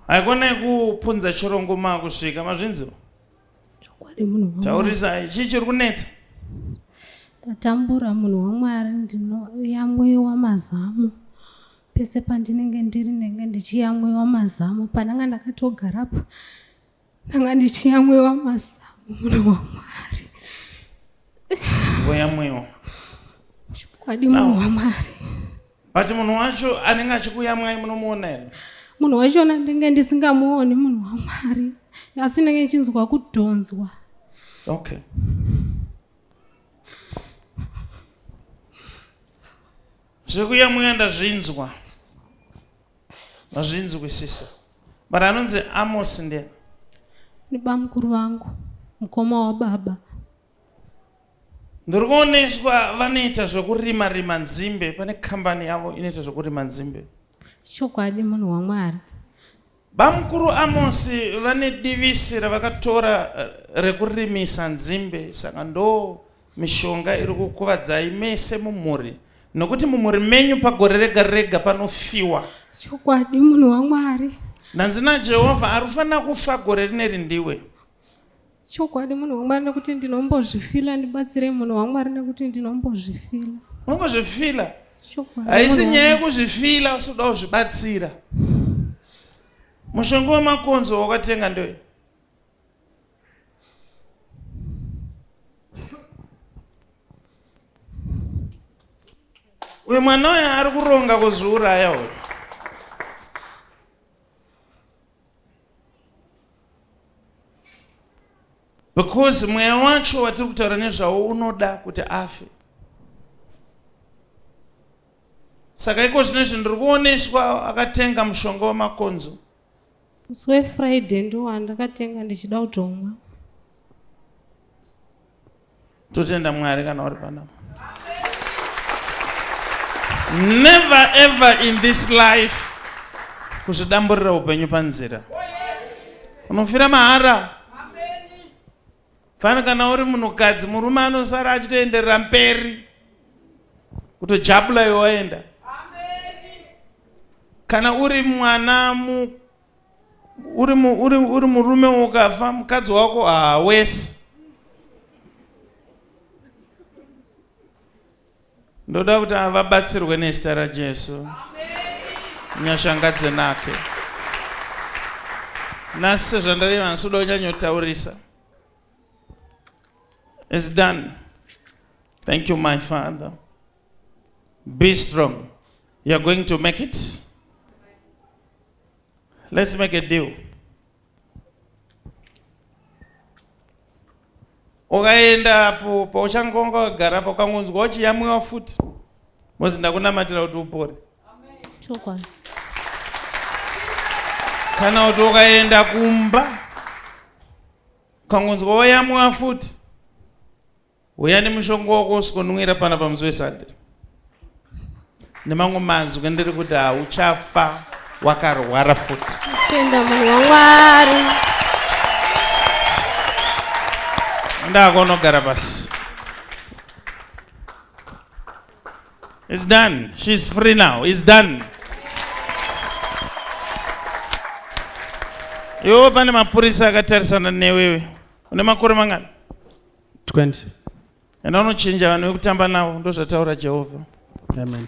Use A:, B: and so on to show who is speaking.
A: haikone kupunza chirongo makusvika mazvinzwa
B: taurisai chii chiri
A: kunetsa
B: ndatambura munhu wamwari ndinoyamwiwa mazamu pese pandinenge ndiri ndenge ndichiyamwiwa mazamu pandanga ndakatogarapo ndanga ndichiyamwiwa mazamu munhu wamwari
A: voyamwiwa chikwadi
B: munhu wamwari but munhu
A: wacho anenge achikuyamwai munomuona here munhu wachona
B: ndenge ndisingamuoni munhu wamwari asi ndenge ndichinzwa kudhonzwa okay
A: zvekuyamwira ndazvinzwa mazvinzwisisa But anonzi Amos ndiye. Ni
B: bamukuru vangu, mukoma wababa.
A: Ndiri kuoneswa vanoita zvekurima rima nzimbe pane kambani yavo inoita zvekurima nzimbe. Chokwadi
B: munhu waMwari. Bamukuru
A: Amosi vane divisi ravakatora eh, rekurimisa nzimbe saka ndo Mishonga iri kukuvadzai mese mumhuri nokuti mumhuri menyu pagore rega rega panofiwa. Chokwadi
B: munhu waMwari. Ndanzi naJehovha
A: ari kufanira kufa gore rineri ndiwe. Chokwadi
B: munhu waMwari nekuti ndinombozvifila ndibatsirei munhu waMwari nekuti ndinombozvifila. Unongozvifila?
A: Chokwadi.
B: Haisi nyaya
A: yekuzvifila usi kuda kuzvibatsira. Mushonga wemakonzo wakatenga ndoye. uyu mwana uyo ari kuronga kuzviuraya uyu because mweya wacho watiri kutaura nezvawo unoda kuti afe saka iko zvino izvi ndiri kuoneswa akatenga mushonga wemakonzo Musi
B: weFriday ndowandakatenga ndichida kutomwa.
A: Totenda Mwari kana uri panapa. Never ever in this life kuzvidamburira upenyu panzira. Unofira mahara. Fani kana uri munhukadzi murume anosara achitoenderera mberi kutojabula iwe waenda kana uri mwana mu, uri, mu, uri, uri murume ukafa mukadzi wako haawesi Ndoda kuti ava vabatsirwe nezita raJesu. Nyasha ngadzinake. Nhasi sezvandareva nhasi uda kunyanyotaurisa. It's done. Thank you my father. Be strong. You're going to make it. Let's make a deal. ukaenda apo pauchangonga wagara apo ukangonzwa uchiyamwiwa futi mozi ndakunamatira kuti upore kana kuti ukaenda kumba ukangonzwa wayamwiwa futi Huya nemushonga wako usikonwira pana pamusi weSunday. Nemamwe mazwi ndiri kuti hauchafa wakarwara futi. Tenda munhu
B: waMwari.
A: Ndako unogara pasi. It's done. She's free now. It's done. Yo pane mapurisa akatarisana newewe. Une makore mangani? 20 enda unochinja vanhu vekutamba
C: navo
A: ndozvataura jehovha amen